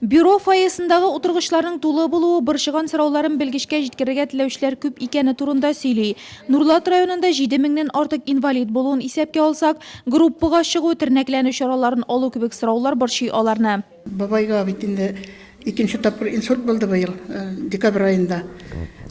Бюро фойесындагы утыргычларның тулы булуы борчыган сорауларын белгечкә җиткерергә теләүчеләр күп икәне турында сөйли. Нурлат районында җиде меңнән артык инвалид булуын исәпкә алсак, группага чыгу, тернәкләнү чараларын алу кебек сораулар борчый аларны. Бабайга бит инде икенче тапкыр инсульт булды быел, декабрь аенда.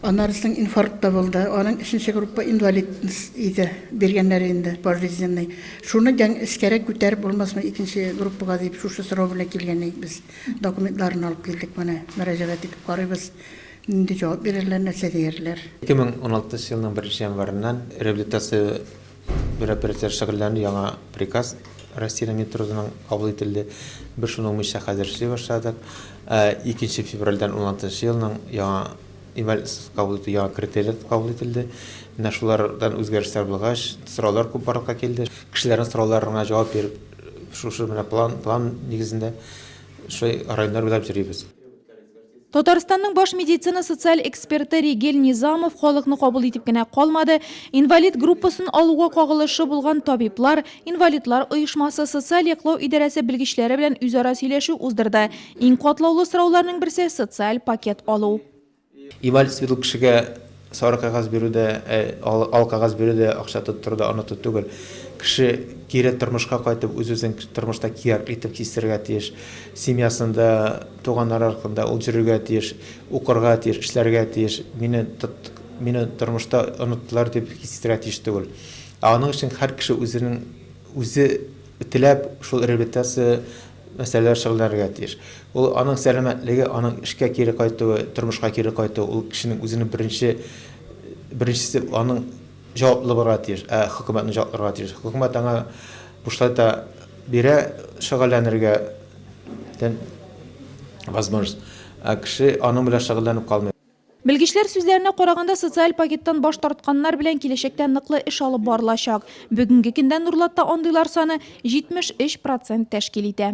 Аннары соң инфаркт та булды. Аның өченче группа инвалидность иде, биргәннәр инде пожизненный. Шуны дән эскәрәк күтәреп булмасмы икенче группага дип шушы сорау белән килгән идек без. Документларын алып килдек менә, мөрәҗәгать итеп карыйбыз, нинди җавап бирерләр, нәрсә диярләр. 2016 елның беренче январыннан реабилитация мероприятиеләре шөгыльләнү яңа приказ Россиянең Минтрудының кабул ителде. Без шуның буенча хәзер эшли башладык. Ә икенче февральдән 16 елның яңа Имәл кабул итү яңа критерийләр кабул ителде. Менә шулардан үзгәрешләр булгач, сораулар күп барлыкка килде. Кешеләрнең сорауларына җавап биреп, шушы менә план, план нигезендә шулай районнар буйлап йөрибез. Татарстанның баш медицина-социаль эксперты Ригель Низамов халыкны кабул итеп кенә калмады, инвалид группасын алуга кагылышы булган табиблар, инвалидлар оешмасы, социаль яклау идарәсе белгечләре белән үзара сөйләшү уздырды. Иң катлаулы сорауларның берсе, социаль пакет алу. Инвалид сыерлы кешегә сары кәгазь бирү дә, ал кәгазь бирү дә, акча тоттыру да оныту түгел. Кеше кире тормышка кайтып, үз-үзен тормышта кияркле итеп хистерергә тиеш. Семьясында, туганнары аркында ул йөрергә тиеш, укырга тиеш, эшләргә тиеш. Мине мине тормышта оныттылар дип хис итәргә тиеш түгел. Ә аның өчен һәр кеше үзенең Үзе теләп шул реабилитация мәсьәләләре шөгыльләнергә тиеш. Ул аның сәламәтлеге, аның эшкә кире кайтуы, тормышка кире кайтуы, ул кешенең үзенең беренче беренчесе аның җаваплы булырга тиеш. Ә хөкүмәт аны җаваплырга тиеш. Хөкүмәт аңа бушлайта бирә шөгыльләнергә тен возможность. Ә кеше аның белән шөгыльләнеп калмый. Белгечләр сүзләренә караганда, социаль пакеттан баш тартканнар белән киләчәктә ныклы эш алып барылачак. Бүгенге көндә Нурлатта андыйлар саны 73 процент тәшкил итә.